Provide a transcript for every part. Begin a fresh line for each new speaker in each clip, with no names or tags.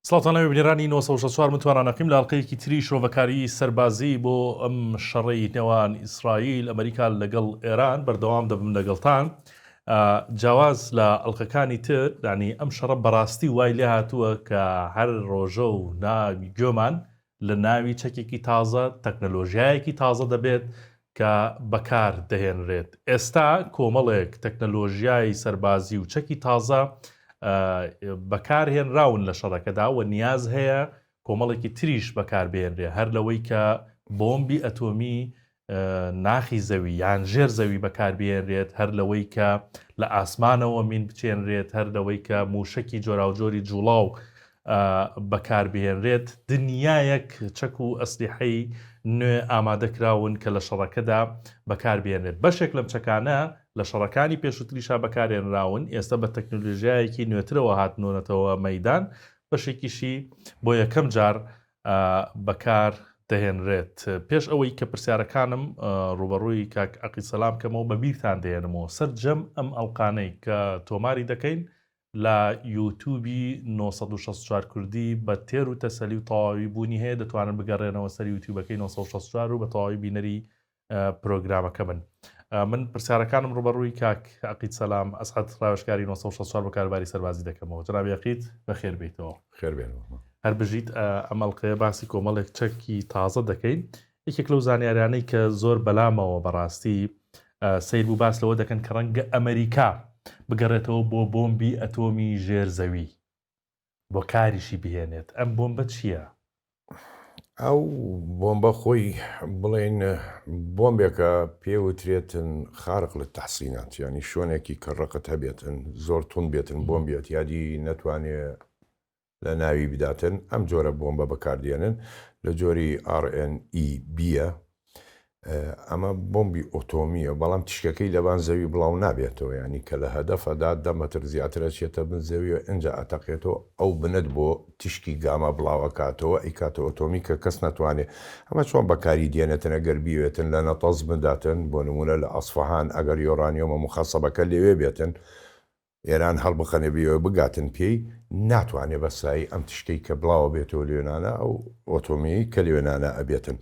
سڵاتانەوە بنێرانی 1964 متوانانەقیم لاڵقەیەکی تری شرۆڤەکاری سەربازی بۆ ئەم شەڕی نێوان ئیسرائیل ئەمریکا لەگەڵ ئێران بەردەوام دەبم لەگەڵتان جیاواز لە ئەڵلقەکانی تر دانی ئەم شەڕە بەڕاستی وای لێ هاتووە کە هەر ڕۆژە و ناوی گوێمان لە ناوی چەکێکی تازە، تەکنەلۆژیایەکی تازە دەبێت کە بەکار دەهێنرێت. ئێستا کۆمەڵێک تەکنەلۆژیای سەربازی و چەکی تازە بەکار هێنراون لە شەڕەکەدا و نیاز هەیە کۆمەڵێکی تریش بەکار بهێنرێ هەر لەوەی کە بۆمبی ئەتۆمی ناخی زەوی یان ژێر زەوی بەکاربیێنرێت هەر لەوەی کە لە ئاسمانەوە مین بچێنرێت هەر لەوەی کە موشەکی جۆراوجۆری جوڵاو بەکاربهێنرێت دنیایەک چەک و ئەسلیحەی نوێ ئامادەکراون کە لە شەڕەکەدا بەکاربیێنێت بەشێک لەم چەکانە لە شەڕەکانی پێشوتریشا بەکارێنراون ئێستا بە تەکنۆلژیایەکی نوێترەوە هاتنۆنەتەوە مەدان بەشێکیشی بۆ یەکەم جار بەکار دەهێنرێت پێش ئەوەی کە پرسیارەکانم ڕووبەڕووی کاک عەقید سەلام کەمەوە بە بیرتان دێنمەوە سەر جەم ئەم ئەڵقانەی کە تۆماری دەکەین لە یوتوبی نۆ سەد و شەست و چوار کوردی بە تێر و تەسەلی و تەواوی بوونی هەیە دەتوانن بگەڕێنەوە سەر یوتیوبەکەی نۆ سەد و شەست و چوار و بە تەواوی بینەری پرۆگرامەکە بن من پرسیارەکانم ڕوبەڕووی کاک عقید سەسلام ئەسعات ڕاوشکاری 1964 بە کارباری سەربازی دەکەمەوە جنابیقیت بەخێر بیتەوە خێربێن
هەر بژیت
ئەمەڵقەیە باسی کۆمەڵێک چەکی تازە دەکەین یەکێک لەو زانیارانەی کە زۆر بەلامەوە بەڕاستی سیر بوو باس لەوە دەکەن کە ڕەنگە ئەمریکا بگەڕێتەوە بۆ بۆمبی ئەتۆمی ژێر زەوی بۆ کاریشی بهێنێت ئەم بۆمبە چییە؟
ئەو بۆمبە خۆی بڵێن بۆمبێکە پێ وترێتن خارق لە تەحسینات ینی شوێنێکی کە ڕقت هەبێتن زۆر تون بێتن بۆم بێت یادی نەتوانێ لە ناوی بداتن ئەم جۆرە بۆمبە بەکاردێنن لە جۆری RNEB ئەمە بۆمبی ئۆتۆمیە بەڵام تیشکەکەی لەبان زەوی بڵاو نابێتەوە یانی کە لە هەدەفە دا دە مەتر زیاتر ئەچێتە بن زەویەوە ئینجا ئەتەقێتەوە ئەو بنەت بۆ تیشکی گاما بڵاو ئەکاتەوە ئەیکاتە ئۆتۆمی کە کەس نەتوانێ ئەمە چۆن بەکاری دێنێتن ئەگەر بیەوێتن لە نەتەنز بنداتن بۆ نموونە لە ئەسفەهان ئەگەر یۆرانیۆمە موخەسەبەکە لەوێ بێتن ئێران هەڵبقەنێ بێوێ بگاتن پێی ناتوانێ بە سایی ئەم تشتەی کە بڵاوە بێتەوە لوێنانە ئەو ئۆتۆمیەی کە لوێنانە ئەبێتن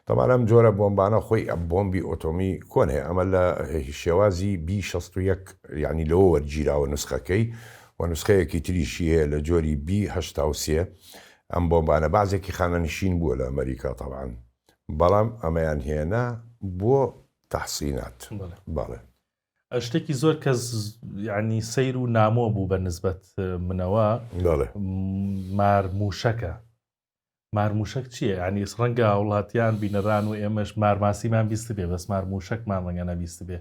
تەبان ئەم جۆرە بۆمبانە خۆی ئە بۆمبی ئۆتۆمی کۆنێ ئەمە لە شێوازی بی شەست و یەک یانی لەوە وەرگیراوە نوسخەکەی و نوسخەیەکی تریشی هەیە لە جۆری بی هەشتا و سێ ئەم بۆمبانە بازێکی خانەنشین بووە لە ئەمەریکا تەبان بەڵام ئەمەیان هێنا بۆ تەحسینات بەڵێ. شتێکی
زۆر کەس ینی سیر و نامۆ بوو بە نسبەت منەوە مارموشەکە مارموشک چییە ینی ڕەنگە وڵاتیان بینەران و ئێمەش مارماسیمان بیست بێ بەس مارموشکمان ڕەنگە نەبیست بێ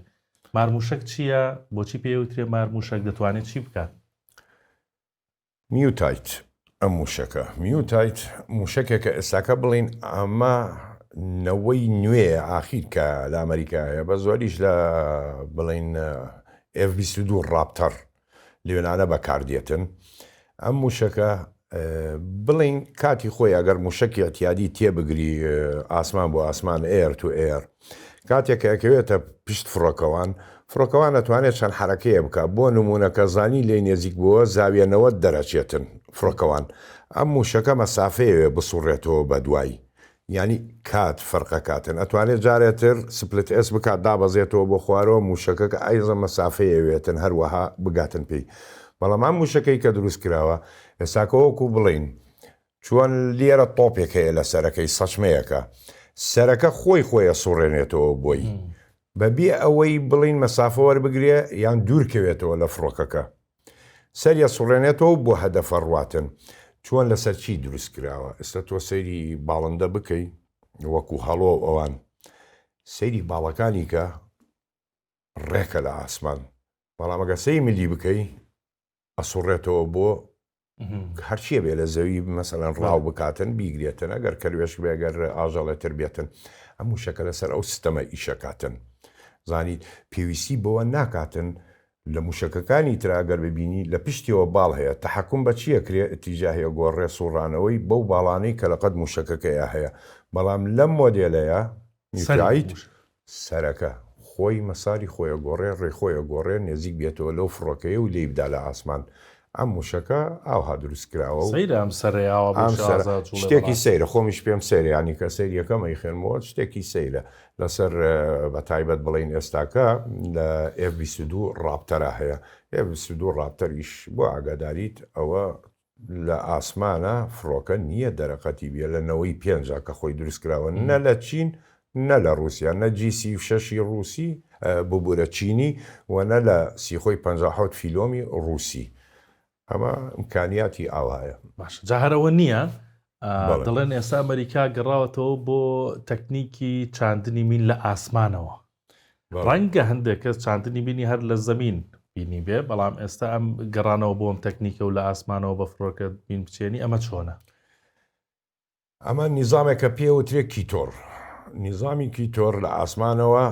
مارموشک چییە بۆچی پێوترێ مارموشک دەتوانێت چی بکات
میوتایت، ئەم مووشەکە، Mutite، مووشەکێکە ئێستاکە بڵێین ئەمە نەوەی نوێیە ئاخیر کە لە ئەمەریکا هەیە بە زۆریش لە بڵێین ئێف بیست و دوو ڕاپتەڕ لەوێنانە بەکاردێتن ئەم مووشەکە بڵێین کاتی خۆی ئەگەر مووشەکی ئەتیادی تێبگری ئاسمان بۆ ئاسمان ئێر تو ئێر کاتێک کە ئەکەوێتە پشت فڕۆکەوان، فڕۆکەوان ئەتوانێت چەند حەرەکەیە بکات، بۆ نموونە کە زانی لێی نێزیک بووە زاویە نەوەد دەرەچێتن فڕۆکەوان ئەم مووشەکە مەسافەیەوێ بسوڕێتەوە بەدوای یانی کات فەرقەکاتن ئەتوانێت جارێتر سپلت ئێس بکات دابەزێتەوە بۆ خوارەوە مووشەکە کە ئایزە مەسافەیەوێتن هەروەها بگاتن پێی بەڵام ئەم مووشەکەی کە دروست کراوە ئێستاکە وەکو بڵێین چۆن لێرە تۆپێک هەیە لە سەرەکەی سەچمەیەکە سەرەکە خۆی خۆی ئەسوڕێنێتەوە بۆی بە بێ ئەوەی بڵین مەسافە وەربگرێ یان دوور کەوێتەوە لە فڕۆکەکە سەری ئەسوڕێنێتەوە بۆ هەدەفە ڕواتن چۆن لەسەر چی دروست کراوە ئێستا تۆ سەیری باڵندە بکەی وەکو هەڵۆ ئەوان سەیری باڵەکانی کە ڕێکە لە ئاسمان بەڵام ئەگە سەی ملی بکەی ئەسوڕێتەوە بۆ هەرچیە بێ لە زەوی مەسەلەن ڕاو بکاتن بیگرێتن ئەگەر کەروێش بێگەر ئاژەڵێتر بێتن ئەم وشەکە لەسەر ئەو سیستەمە ئیشەکاتن زانیت پێویستی بەوە ناکاتن لە موشەکەکانی تراگەر ببینی لە پشتیەوە باڵ هەیە تحکم بە چیە کرێ تیجاهەیە گۆ ڕێسوڕانەوەی بەو باڵانەی کە لەقەت موشەکەکەیە هەیە بەڵام لەم مۆدێلەیە میکایت سەرەکە، خۆی مەساری خۆیەگۆڕێ، ڕێ خۆیەگۆڕێ، نێزیک بێتەوە لەو فڕۆکەیە و لێی بدا لە ئاسمان. ئەم مووشەکە ئاوها دروست کراوە و. سەیرە ئەم سەرەی
ئاوا بۆ شازادە جووڵێ بەڕاستی. شتێکی
سەیرە، خۆمیش پێم سەیرە، یانی کە سەیری یەکەم ئەیخەنمەوە، شتێکی سەیرە. لەسەر بە تایبەت بڵێین ئێستاکە لە ئێف بیست و دوو ڕاپتەرا هەیە. ئێف بیست و دوو ڕاپتەر ئیش بۆ ئاگاداریت ئەوە لە ئاسمانە فڕۆکە نیە دەرەقەتی بیە لە نەوەی پێنجا کە خۆی دروست کراوە نە لە چین نە لە ڕوسیا نە جی سی و شەش ی ڕوسی ببورە چینی وە نە لە سیخۆی پەنجا حەوت فیلۆمی ڕوسی ئەمە امکانیاتی ئاوایە. باشە جا هەر ئەوە
نیە دەڵێن ئێستا ئەمەریکا گەڕاوەتەوە بۆ تەکنیکی چاندنی مین لە ئاسمانەوە. ڕەنگە هەندێک کەس چاندنی بینی هەر لە زەمین بینی بێ بەڵام ئێستا ئەم گەڕانەوە بۆم تەکنیکە و لە ئاسمانەوە بە فڕۆکە بین بچێنی ئەمە چۆنە
ئەمە نیزامێکە پێوترێ کیتۆر نیزامی کیتۆر لە ئاسمانەوە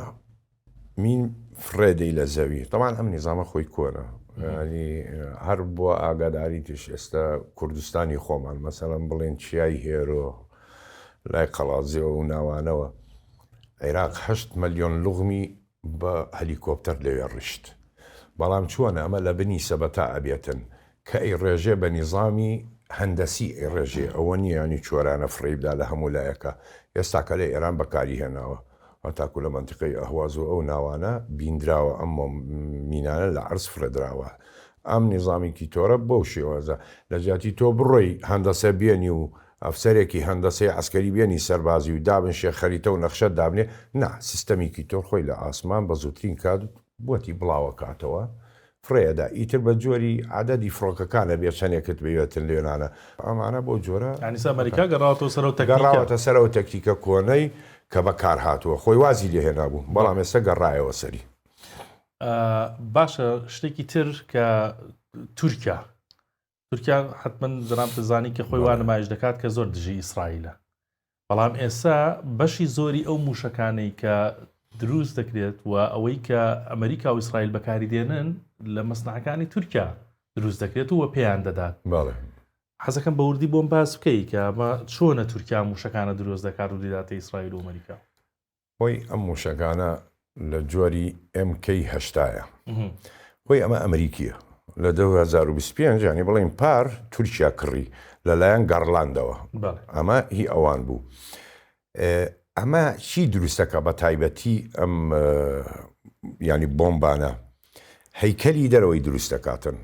مین فرێدەی لە زەوی تەمان ئەم نیزامە خۆی کۆنە ینی هەر بۆ ئاگاداری تش ئێستا کوردستانی خۆمان مەسەلم بڵێن چیای هێرۆ لای قەڵازیەوە و ناوانەوە عێراق هەشت مەلیۆن لوغمی بە هەلیکۆپتەر لەوێ ڕیشت بەڵام چۆنە ئەمە لە بنی سەبەتا ئەبێتن کە ئەی ڕێژێ بە نیزامی هەندەسی ئەی ڕێژێ ئەوە نیە یانی چۆرانە فڕێی بدا لە هەموو لایەکا ئێستا کە لە ئێران بەکاری هێناوە هەتاکو لە مەنتیقەی ئەهواز و ئەو ناوانە بیندراوە ئەم مینانە لە عەرز فڕێدراوە ئەم نیزامی کیتۆرە بەو شێوازە لە جیاتی تۆ بڕۆی هەندەسە بێنی و ئەفسەرێکی هەندەسەی عەسکەری بێنی سەربازی و دابن شێخ خەریتە و نەخشە دابنێ نا سیستەمی کیتۆر خۆی لە ئاسمان بە زووترین کات بۆتی بڵاوەکاتەوە فڕێ ئەدا ئیتر بە جۆری عەدەدی فڕۆکەکان ئەبێ چەنێکت بەوێتن لێنانە ئەمانە بۆ جۆرە یانی ئستا ئەمەریکا گەڕاوەتەوە
سەر ئەو تەکنیکە. گەڕاوەتە سەر ئەو
تەکتیکە کۆنەی کە بە کار هاتووە خۆی وازی لێ هێنابوو بەڵام ئێستا گەڕایەوە سەری.
باشە شتێکی تر کە تورکیا تورکیا حتمن جناب دەزانی کە خۆی وا نمایش دەکات کە زۆر دژی ئیسرائیلە بەڵام ئێستا بەشی زۆری ئەو موشەکانەی کە دروست دەکرێت و ئەوەی کە ئەمریکا و ئیسرائیل بەکاری دێنن لە مەسنعەکانی تورکیا دروست دەکرێت و پێیان دەدات حەزەکەم بە وردی بۆم باس بکەی کە چۆنە تورکیا موشەکانە دروست دەکات و دیداتە ئیسرائیل و ئەمریکا هۆی
ئەم موشەکانە لە جۆری MK هەشتا یە هۆی ئەمە ئەمریکیە لە دوو هەزار و بیست و پێنج یانی بڵێین پار تورکیا کڕی لەلایەن گەڕلاندەوە ئەمە هی ئەوان بوو ئەمە چی دروستەکە بە تایبەتی ئەم ینی بۆمبانە هەیکەلی دەرەوەی دروستەکاتن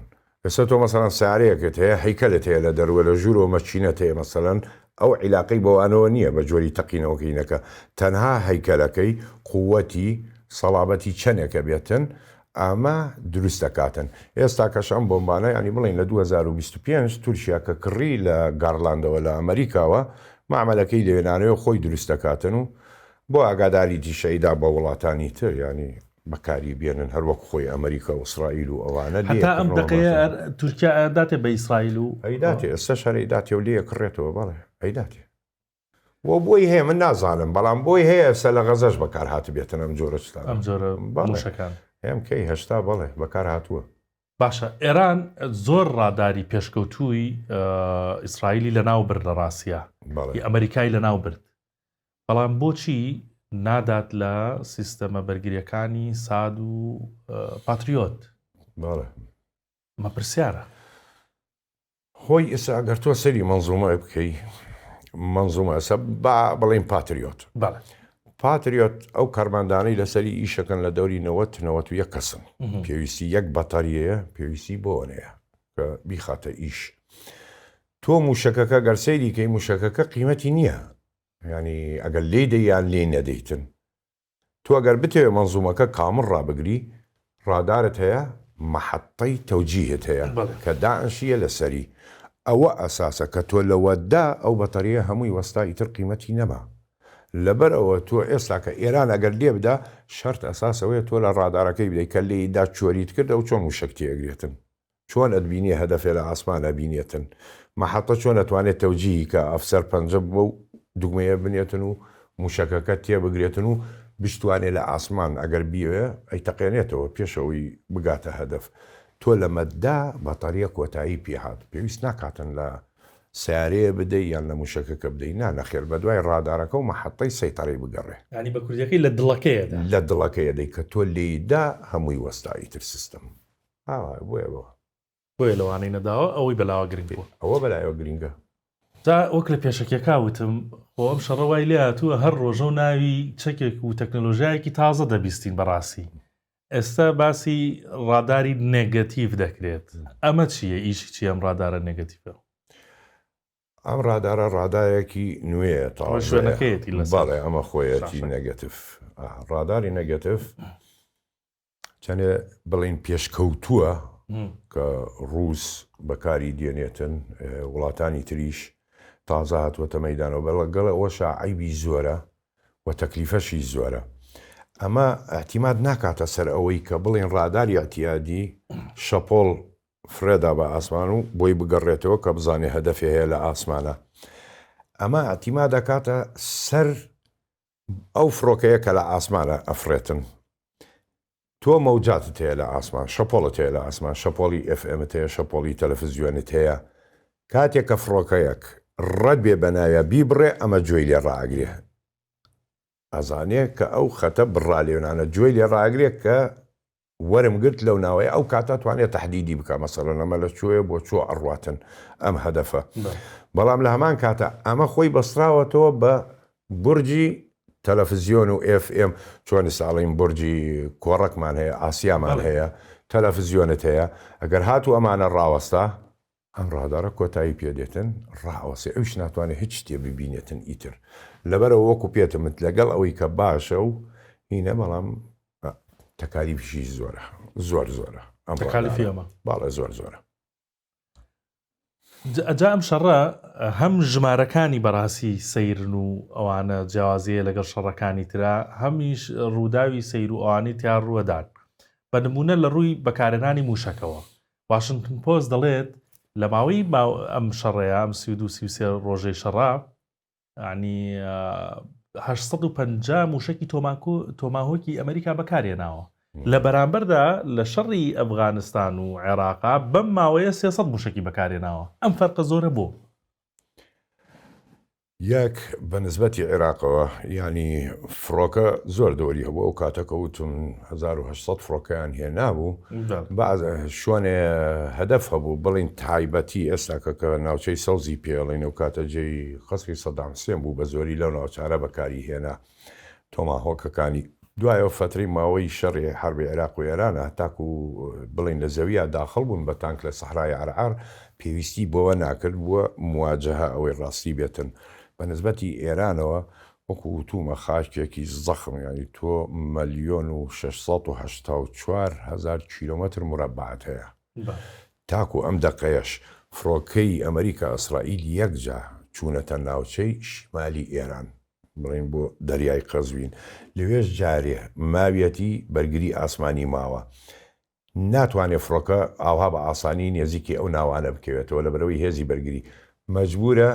ئێستا تۆ مەسەلەن سەیارەیەکت هەیە هەیکەلت هەیە لە دەروە لە ژوورەوە مەکینەت هەیە مەسەلەن ئەو عیلاقەی بەوانەوە نییە بە جۆری تەقینەوەکەی نەکە تەنها هەیکەلەکەی قووەتی سەڵابەتی چەنێکە بێتن ئەمە دروست دەکاتن ئێستاکەش ئەم بۆمبانە یانی بڵێن لە دوو هەزار و بیست و پێنج تورکیا کە کڕی لە گاڕلاندەوە لە ئەمەریکاوە مەعمەلەکەی لەوێ نانەوێ خۆی دروست دەکاتن و بۆ ئاگاداریتیشەیدا بە وڵاتانی تر یانی بەکاری بێنن هەر وەک خۆی ئەمریکا و ئیسرائیل و ئەوانە لێ هەتا ئەم کڕنەوە دەقەیە مافی ئەر
تورکیا ئەر داتێ بە ئیسرائیل و ئەی داتێ ئێستا شەرەی
داتێ و لێ کڕێتەوە بەڵێ ئەی داتێ و بۆی هەیە من نازانم بەڵام بۆی هەیە ئێستا لە غەزەش بەکار هاتبێتن ئەم جۆرە شتانە ئەم جۆرە بەڵێ.
موشەکان ئێم کەی هەشتا
بەڵێ بەکار هاتووە باشە ئێران
زۆر ڕاداری پێشکەوتووی ئە، ئیسرائیلی لە ناو برد لە ڕاسیە بەڵێ ی ئەمریکای لە ناو برد بەڵام بۆچی نادات لە سیستەمە بەرگریەکانی ساد و پاتریۆت مە پرسیارە خۆی
ئێستا ئەگەر تۆ سەری منزومای بکەی منزومە ئەسە با بڵین پاتریۆت پاتریۆت ئەو کارماندانەی لەسەری ئیشەکەن لە دەوری نەوەت نەوەت و یەک کەسن پێویستی یەک بەتەریەیە پێویستی بۆنەیە کە بیخاتە ئیش تۆ موشەکەکە گەرسەیری کەی موشەکەکە قیمەتی نییە یانی ئەگەر لێی دەی یان لێی نەدەیتن تۆ ئەگەر بتەوێ مەنزومەکە کامڵ ڕابگری ڕادارت هەیە مەحەتەی تەوجیهت هەیە بەڵێ. کە دانشیە لەسەری ئەوە ئەساسە کە تۆ لەوەتدا ئەو بەتەریە هەمووی وەستا ئیتر قیمەتی نەما لەبەر ئەوە تۆ ئێستا کە ئێران ئەگەر لێ بدا شەرت ئەساس ئەوەیە تۆ لە ڕادارەکەی بدەی کە لێی دا چۆریت کرد ئەو چۆن وشەک تێ ئەگرێتن چۆن ئەتبینێ هەدەفێ لە ئاسمان ئەبینێتن؟ مەحەتە چۆن ئەتوانێ تەوجیهی کە ئەفسەر پەنجە بەو دوگمەیە بنێتن و موشەکەکە تێبگرێتن و بشتوانێ لە ئاسمان ئەگەر بیەوێ ئەیتەقێنێتەوە پێش ئەوەی بگاتە هەدەف تۆ لەمەددا بەتەریە کۆتایی پێ هات پێویست ناکاتن لە سەیارەیە بدەی یان لە موشەکەکە بدەی نا نەخێر بەدوای ڕادارەکە و مەحەتەی سەیتەرەی بگەڕێ. یانی بە کوردیەکەی لە
دڵەکەیەدا. لە دڵەکەیەدەی
کە تۆ لێیدا هەمووی وەستا ئیتر سیستم. ها وایە بۆیە بۆ. بۆیە
لەوانەی نەداوە ئەوەی بەلاوە گرنگ بووە. ئەوە بەلایەوە گرینگە.
جا وەک
لە پێشەکیەکا وتم خۆ ئەم شەڕە وای لێ هاتووە هەر ڕۆژەو ناوی چەکێک و تەکنەلۆژیایەکی تازە دەبیستین بەڕاستی ئێستا باسی ڕاداری نێگەتیڤ دەکرێت ئەمە چییە ئیشی چی ئەم ڕادارە نێگەتیڤە؟
ئەم ڕادارە ڕادایەکی نوێ تاڵێتی لەساڵێ
ئەمە خۆیەتی
نەگەتف ڕاداری نەگەتف چەنێ بڵین پێشکەوتووە کە ڕووس بەکاری دێنێتن وڵاتانی تریش تازە هاتووەتە مەدانەوە بەڵە گەڵ ئەوە شعیبی زۆرە و تەکلیفەشی زۆرە ئەمە ئەحتیمات ناکاتە سەر ئەوەی کە بڵێن ڕاداری ئەتیادی شەپۆل فرێدا بە ئاسمان و بۆی بگەڕێتەوە کە بزانێ هەدەفێ هەیە لە ئاسمانە ئەمە ئەتیما دەکاتە سەر ئەو فڕۆکەیە کە لە ئاسمانە ئەفڕێتن تۆ مەوجاتت هەیە لە ئاسمان شەپۆڵت هەیە لە ئاسمان شەپۆڵی ئێف ئێمت هەیە شەپۆڵی تەلەفزیۆنت هەیە کاتێک کە فڕۆکەیەک ڕەبێ بە ناویا بیبڕێ ئەمە جۆی لێ ڕاگرێ ئەزانێ کە ئەو خەتە بڕا لێونانە جۆی لێ ڕاگرێ کە وەرم گرت لەو ناوەیە ئەو کاتە توانێ تەحدیدی بکا مەسەلەن ئەمە لە چۆیە بۆ چۆ ئەڕواتن ئەم هەدەفە بەڵام لە هەمان کاتە ئەمە خۆی بەستراوەتەوە بە بورجی تەلەفزیۆن و ئێف ئێم چۆنی ساڵین بورجی کۆڕەکمان هەیە ئاسیامان هەیە تەلەفزیۆنت هەیە ئەگەر هاتوو ئەمانە ڕاوەستا ئەم ڕادارە کۆتایی پێ دێتن ڕائەوەسێ ئەویش ناتوانێ هیچ شتێ ببینێتن ئیتر لەبەرەوە وەکو پێتمت لەگەڵ ئەوەی کە باشە و هینە بەڵام تەکالیفیشی زۆرە زۆر زۆرە ئەم تەکالیفی ئەمە
باڵە زۆر زۆرە ئەجا ئەم شەڕە هەم ژمارەکانی بەڕاستی سەیرن و ئەوانە جیاوازیە لەگەڵ شەڕەکانی ترا هەمیش ڕووداوی سەیر و ئەوانی تیا ڕووەدان بە نمونە لە ڕووی بەکارێنانی موشەکەوە واشنتن پۆست دەڵێت، لە ماوەی ئەم شەڕەیا، ئەم سی و دوو سی و سێ ڕۆژەی شەڕە، یانی هەشت سەد و پەنجا مووشەکی تۆماکو تۆماهۆکی ئەمریکا بەکارهێناوە. لە بەرامبەردا لە شەڕی ئەفغانستان و عێراقا بەم ماوەیە سێ سەد مووشەکی بەکارهێناوە. ئەم فەرقە زۆرە بۆ؟
یەک بە نسبەتی عیراقەوە یانی فڕۆکە زۆر دەوەری هەبوو ئەو کاتە کە وتم هەزار و هەشت سەد فڕۆکەیان هێنابوو بەڵێ. بەعز شوێنێ هەدەف هەبوو بڵێین تایبەتی ئێستا کە کە ناوچەی سەوزی پێڵێن ئەو کاتە جێی قەسری سەدام حسێن بوو بە زۆری لەو ناوچانە بەکاری هێنا. تۆماهۆکەکانی دوای ئەو فەترەی ماوەی شەڕی حەربی عێراق و ئێرانە تاکو بڵێین لە زەویا داخڵ بوون بە تانک لە سەحرای عەرعار پێویستی بەوە ناکرد بووە مواجەهە ئەوەی ڕاستی بێتن بە نسبەتی ئێرانەوە وەکو وتوومە خاکێکی زەخم یانی تۆ مەلیۆن و شەش سەد و هەشتا و چوار هەزار کیلۆمەتر مورەبعت هەیە تاکو ئەم دەقەیەش فڕۆکەی ئەمریکا ئیسرائیل یەکجا چوونەتە ناوچەی شیمالی ئێران. بڕین بۆ دەریای قەزوین لەوێش جارێ ماویەتی بەرگری ئاسمانی ماوە ناتوانێت فڕۆکە ئاوها بە ئاسانی نێزیکی ئەو ناوانە بکەوێتەوە لەبەرەوەی هێزی بەرگری مەجبورە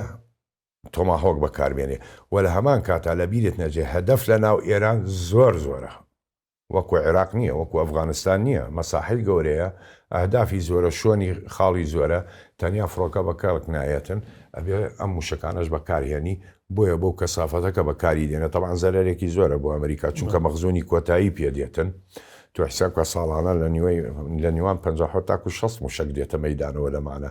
تۆماهۆک بەکاربێنێ وە لە هەمان کاتا لە بیرت نەجێ هەدەف لە ناو ئێران زۆر زۆرە وەکو عێراق نیە وەکو ئەفغانستان نیە مەساحەی گەورەیە ئەهدافی زۆرە شۆنی خاڵی زۆرە تەنیا فڕۆکە بە کەڵک نایەتن ئەبێ ئەم موشەکانەش بەکارهێنی بۆیە بەو کەسافەتەکە بەکاری دێنێ تەبعەن زەرەرێکی زۆرە بۆ ئەمریکا چونکە مەخزونی کۆتایی پێ دێتن تۆ حیساب کە ساڵانە لە نیوەی لە نیوان پەنجا حۆ تاکو شەست موشەک دێتە مەیدانەوە لەمانە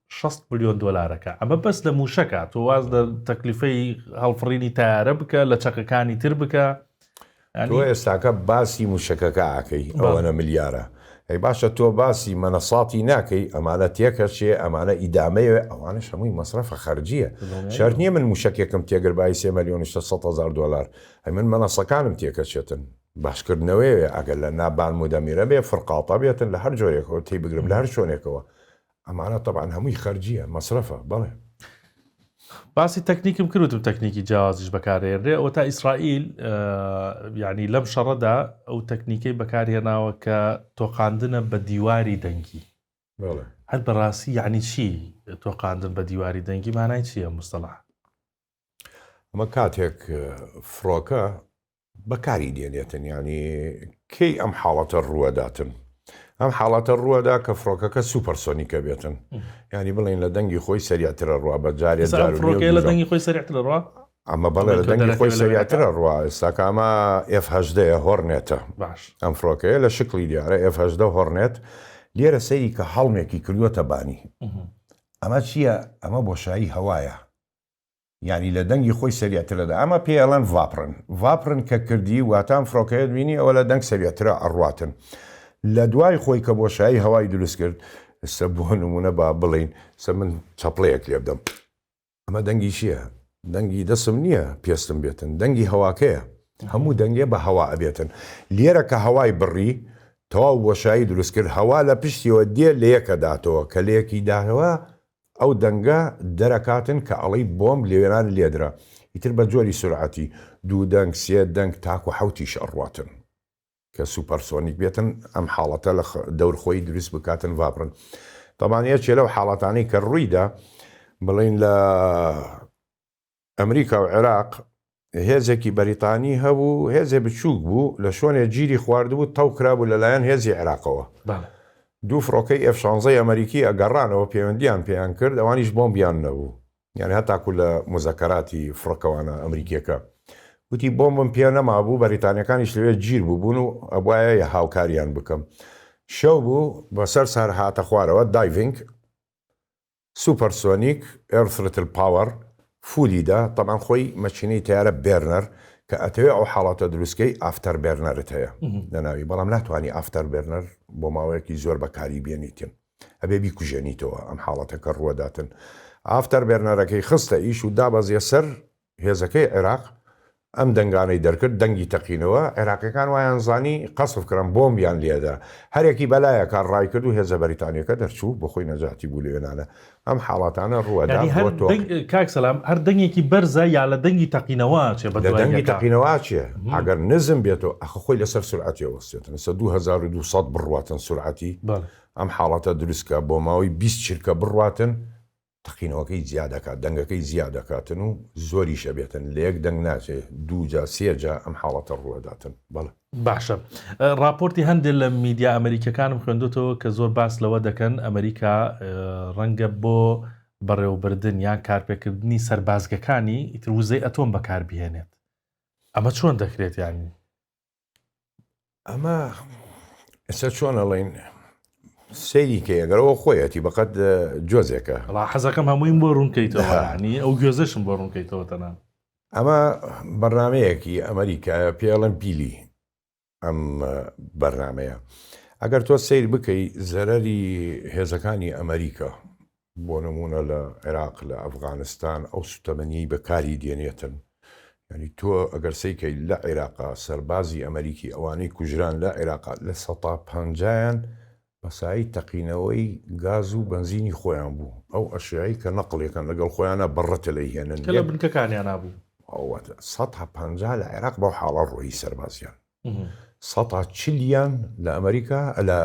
شەست ملیۆن دۆلارەکە ئەمە بەس لە مووشەکە تۆ واز لە تەکلیفەی هەڵفڕینی تارە بکە لە چەکەکانی تر بکە تۆ
ئێستاکە باسی مووشەکەکە ئاکەی ئەوەنە ملیارە ئەی باشە تۆ باسی مەنەساتی ناکەی ئەمانە تێکەچێ ئەمانە ئیدامەیە ئەوانە شەمووی مەسرەفە خەرجیە شەر نییە من مووشەکێکم تێگر بای سێ ملیۆن هزار دلار ئەی من مەنەسەکانم تێکەچێتن باسکردنەوەیە ئەگەر لە نابان مودەمیرە بێ فرقاڵتە بێتن لە هەر جۆرێکەوە تی بگرم لە هەر شوێنێکەوە ئەمانە تەبعەن هەمووی خەرجیە، مەسرەفە، بەڵێ.
باسی تەکنیکم کرد وتم تەکنیکی جیاوازیش بەکاردەهێنرێ ئەوەتا ئیسرائیل یانی لەم شەڕەدا ئەو تەکنیکەی بەکارهێناوە کە تۆقاندنە بە دیواری دەنگی هەر بەڕاستی یعنی چی تۆقاندن بە دیواری دەنگی مانای چییە مستەڵح
ئەمە کاتێک فڕۆکە بەکاری دێنێتن یانی کەی ئەم حاڵەتە ڕووەداتن ئەم حاڵەتە ڕووەدا کە فڕۆکەکە سوپەرسۆنیکە بێتن یانی بڵین لە دەنگی خۆی سەریاترە ڕوا بە جارێ لە دەنگی خۆی
سەرتر ڕوا ئەمە بەڵێ لە دەنگی
خۆی سەریاترە ڕوا ئێستاکامە F10ەیە هۆڕنێتە باش ئەم فڕۆکەیە لە شکلی دیارە F10 هۆڕنێت لێرە سەیری کە هەڵمێکی کردووەتە بانی ئەمە چییە ئەمە بۆشایی هەوایە یانی لە دەنگی خۆی سەریع ترە دە ئەمە پێی ئەڵێن ڤاپڕن ڤاپڕن کە کردی واتا ئەم فرۆکەیەت بینی ئەوە لە دەنگ سەریع ترە ئەڕواتن لە دوای خۆی کە بۆشایی هەوای دروست کرد سە بۆ نمونە با بڵین سە من چەپڵەیەک لێ بدەم ئەمە دەنگی چیە دەنگی دەسم نیە پێستم بێتن دەنگی هەواکەیە هەموو دەنگێ بە هەوا ئەبێتن لێرە کە هەوای بڕی تەواو بۆشایی دروست کرد هەوا لە پشتیەوە دێ لەیەکە داتەوە کە لەیەکی داهەوە ئەو دەنگە دەرەکاتن کە ئەڵێی بۆمب لەوێران لێدرا ئیتر بە جۆری سورعەتی دوو دەنگ سێ دەنگ تاکو حەوتیش ئەڕواتن کە سوپەرسۆنیک بێتن ئەم حاڵەتە لە دەور خۆی دروست بکاتن ڤابڕن تەبان یەکێ لەو حاڵەتانەی کە ڕوویدا بڵێن لە ئەمریکا و عێراق هێزێکی بەریتانی هەبوو هێزێ بچووک بوو لە شۆنێ جیری خواردبوو تەو کرابوو لە لایەن هێزی عێراقەوە بەڵێ. دوو فڕۆکەی ئێف شانزەی ئەمەریکی ئەگەڕانەوە پێوەندیان پێیان کرد ئەوانیش بۆمبیان نەبوو یانی هەتاکوو لە موزەکەراتی فڕکەوانە ئەمریکیەکە وتی بۆمبم پێ نەمابوو بەریتانیەکانیش لەوێ جیر بووبوون و ئەبوایە یە هاوکاریان بکەم شەو بوو بەسەر سەر هاتە خوارەوە دایڤینگ سوپەر سۆنیک ئێر ثرتل پاوەر فولی دە تەبعەن خۆی مەکینەی تەیارە بێرنەر کە ئەتەوێ ئەو حاڵەتە دروست کەی ئافتەر بێرنەرت هەیە لە ناوی بەڵام ناتوانی ئافتەر بێرنەر بۆ ماوەیەکی زۆر بەکاری بێنیتن ئەبێ بیکوژێنیتەوە ئەم حاڵەتەکە ڕووەداتن ئافتەر بێرنەرەکەی خستە ئیش و دابەزیە سەر هێزەکەی عێراق ئەم دەنگانەی دەرکرد دەنگی تەقینەوە، عێراقیەکان وایان زانی قەسف کران بۆمبیان لێدا، هەرێکی بەلایەکە ڕایکرد و هێزە بەریتانیەکە دەرچوو بۆخۆی نەجاتی بوو لەوێنانە ئەم حاڵاتانە ڕووەدا بۆ تۆ. کاک
سەلام هەر دەنگێکی بەرزە یا لە دەنگی تەقینەوە ئەچێ بە دوای یەکا؟ لە دەنگی تەقینەوە ئەچێ
ئەگەر نزم بێتەوە ئەخە خۆی لەسەر سورعەتی ئەوەستێتن سە دوو هەزار و دوو سەد بڕواتن سورعەتی ئەم حاڵەتە دروستکە بۆ ماوەی بیست چرکە بڕواتن تەقینەوەکەی جیا دەکات دەنگەکەی جیا دەکاتن و زۆریش ئەبێتن لە یەک دەنگ ناچێت دوو جا سێ جا ئەم حاڵەتە ڕووئەداتن بەڵێ. باشە
ڕاپۆرتی هەندێ لە میدیا ئەمەریکەکانم خوێندۆتەوە کە زۆر باس لەوە دەکەن ئەمەریکا ڕەنگە بۆ بەڕێوەبردن یان کارپێکردنی سەربازگەکانی ئیتر وزەی ئەتۆم بەکاربهێنێت ئەمە چۆن دەکرێت یانی ئەمە
ئێستا چۆن ئەڵین سەیریکە ئەگەرەوە خۆیەتی بەقەت جۆزێکە ڵا حەزەکەم هەموویم
بۆ ڕوونکەیتەوەنی ئەو گوێزەشم بۆ ڕوونکەیتەوە تەنان ئەمە
بەرنمەیەکی ئەمریکایە پێڵم پیلی ئەم بەرنمەیە ئەگەر تۆ سیر بکەی زەرەری هێزەکانی ئەمریکا بۆ نموونە لە عێراق لە ئەفغانستان ئەو سوتەمەنیەی بەکاری دێنێتن یعنی تۆ ئەگەر سەیکەی لە عێراقا سەربازی ئەمەریکی ئەوانەی کوژران لە عێراقا لە سەتا پەنجایان بەسایی تەقینەوەی گاز و بەنزینی خۆیان بوو ئەو ئەشیایی کە نەقڵێکەن لەگەڵ خۆیانە بەڕەتە لەی هێنن کە لە بنکەکانیانا
بوو. ئەوەتا سەتا
پەنجا لە عێراق بەو حاڵە ڕۆیی سەربازیان. سەتا چلیان لە ئەمریکا لە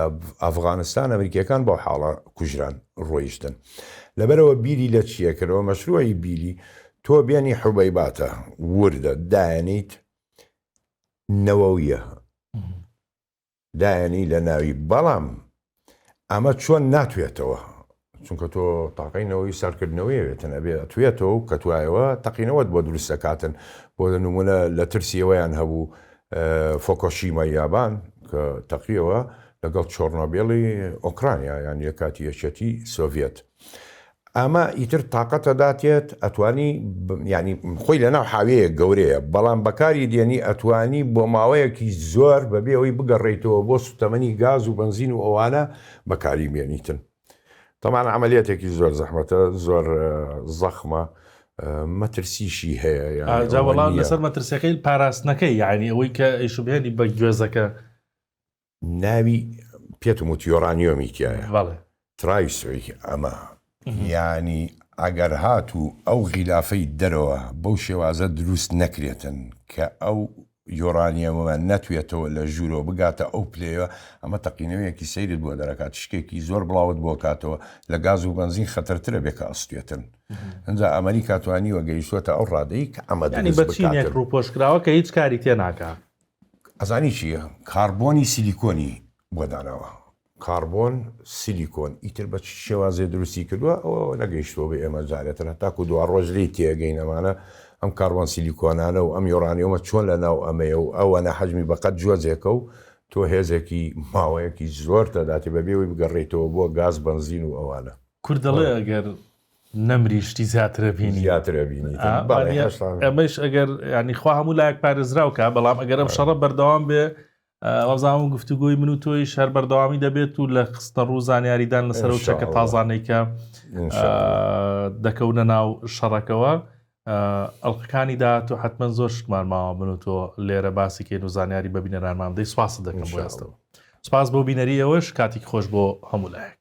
ئەفغانستان ئەمریکیەکان بەو حاڵە کوژران ڕۆیشتن لەبەرەوە بیری لە چیە کردەوە مەشروعی بیری تۆ بێنی حوبەی باتە وردە دایەنیت نەوەویە دایەنی لە ناوی بەڵام ئەمە چۆن ناتوێتەوە؟ چونکە تۆ تاقەی نەوەی ساردکردنەوەی ئەوێتن ئەبێ ئەتوێتەوە و کە توایەوە تەقینەوەت بۆ دروست دەکاتن بۆ لە نمونە لە ترسی ئەوەیان هەبوو فۆکۆشیمای یابان کە تەقیەوە لەگەڵ چۆرنۆبێڵی ئۆکرانیا یان لە کاتی یەکێتی سۆڤێت ئەمە ئیتر تاقەتە داتێت ئەتوانی یانی خۆی لەناو حاویەیەک گەورەیە بەڵام بەکاری دێنی ئەتوانی بۆ ماوەیەکی زۆر بەبێ ئەوەی بگەڕێیتەوە بۆ سوتەمەنی گاز و بەنزین و ئەوانە بەکاری بێنیتن تەمان عملیاتێکی زۆر زەحمەتە زۆر زەخمە مەترسیشی هەیە جاوەڵان لەسەر
مەترسیەکەی پاراستنەکەی یعنی ئەوەی کە ئەیشبهێنی بە گوێزەکە
ناوی پێتم وت یۆرانیۆمی تیایە. بەڵێ. ترای
سویکی
ئەمە یانی ئەگەر هاتو ئەو غیلافەی دەرەوە بەو شێوازە دروست نەکرێتن کە ئەو یۆرانیەمە نەتوێتەوە لە ژورەوە بگاتە ئەو پلەیە ئەمە تەقینەوەیەکی سەیرت بۆ دەرەکات تشکێکی زۆر بڵاوت بۆ کاتەوە لە گاز و بەنزین خەتەرترە بێ کە ئەستێتن ئەجا ئەمەریکا توانیوە گەیشتوەتە ئەو ڕادەی کە ئەمە دەنی بەچینێک
ڕوپۆشکراوە کە هیچ کاری تێ ناکا. ئەزانی
چی یە کاربۆنی سیلیکۆنی بۆ داناوە. کاربۆن سیلیکۆن ئیتر بە چ شێوازێ دروستی کردوە ئەوە نەگەیشتوە بە ئێمە جارێ تەنها تاکو دواڕۆژ لێی تێگەین ئەمانە ئەم کاربۆن سیلیکۆنانە و ئەم یۆرانیۆمە چۆن لە ناو ئەمەیە و ئەوەنە حەجمی بە قەد جۆزێکە و تۆ هێزێکی ماوەیەکی زۆرت ئەداتێ بەبێ ئەوەی بگەڕێیتەوە بۆ گاز بەنزین و ئەوانە. کورد دەڵێ ئەگەر
نەمری شتی زیاتر ئەبینی. زیاتر ئەبینی. ئا، بەڵێ،
وانیە هەشت ساڵ. ئەمەش
ئەگەر یانی خوا هەموو لایەک پارێزراو کا، بەڵام ئەگەر ئەم شەڕە بەردەوام بێ، ئا، وابزانم ئەم گفتوگۆی من و تۆیش هەر بەردەوامی دەبێت و لە خستنەڕوو و زانیاریدان لەسەر ئەو چەکە ئینشاءاللە. تازانەی کە، ان ئا، شاء الله. دەکەونە ناو شەڕەکەوە، ئا، ئەڵقەکانی داهاتوو حەتمەن زۆر شتمان ماوە من و تۆ لێرە باسی کەین و زانیاری بە بینەرانمان بدەی، سوپاست ان دەکەم بۆ شاء ئێستە. الله. سوپاس بۆ بینەری ئێوەش، کاتیکی خۆش بۆ هەموو لایەک.